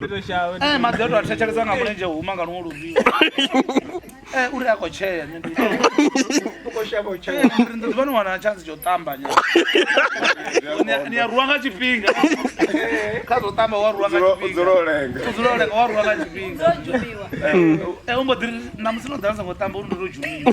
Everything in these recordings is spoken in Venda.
Eh, maḓi ato a thetshelesa nga mulenzhe huma nga luṅwe luvhio eh, uri a khou tshea ḓuvha ni wana tshantsi tsha u tamba ni a ruwa nga tshifhinga kha zwo tamba wa ruwa ngaudzula olenga wa ruwa nga tshifhinga eh, u mbo ḓi namusi no ḓala songo tamba uri ndo to dzhumiwa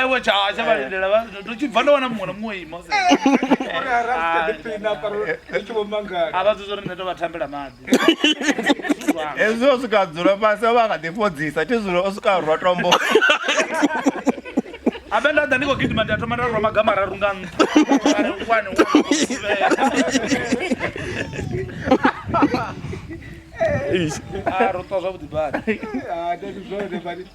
ewe tshasha vha lindela vha- ndo tshi bva ndo wana muṅwe na muṅwe ima se- a vha dzudza uri nṋe to vha thambela maḓi hezwi o swika dzula fhasi ovha nga ḓi fhodzisa thi zwino o swika rwa tombo abe nda ḓa ndi khou gidima ndi a thoma nda rwa maga mararu nga nṱha Ari, one, one, two, three. Ah, ro ṱwa zwavhuḓi badi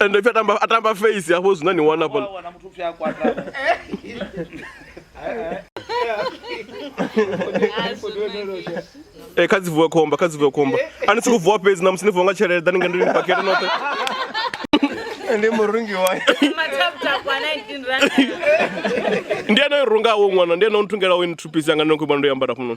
ende pfi atamba atamba face hafho zwina ni wana hafho wana muthu pfi a kwata eh kha dzi vuwe khomba kha dzi vuwe khomba ani si ku vuwa fhedzi na musi ni vuwa nga tshelede dani nga ndi ni pakete noṱhe ndi murungi wa ndi ane runga wo ṅwana ndi ane nthungela wo ni thupisi anga ndi khou ndo yambara fhano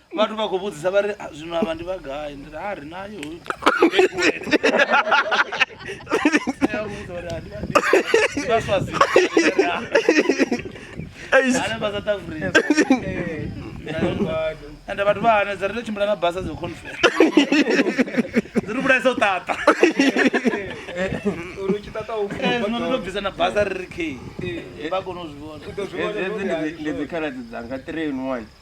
vhathu vha khou vhudzisa vha ri zwino avha ndi vha gai ndi ri a ri nayo ende vhathu vha hanedza ri to tshimbila na basa dzo confere dzi ri vhulaisa u ṱaṱa zwino ndo bvisa na basa ri ri khe vha kone u zwi vhona ndi dzikhaladzi dzanga three in one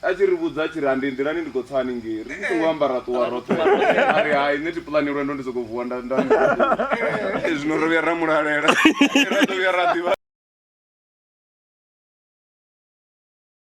A tshi ri vhudza a tshi ri, Ha ndi nḓilani ndi khou tsa haningei. Ri tshi songo amba ra ṱuwa roṱhe. A ri, Hai, nṋe thi puḽani lwendo ndi sokou vuwa nda nda nda. Zwino ro vhuya ra mu lalela. Ra ḓo vhuya ra ḓivha.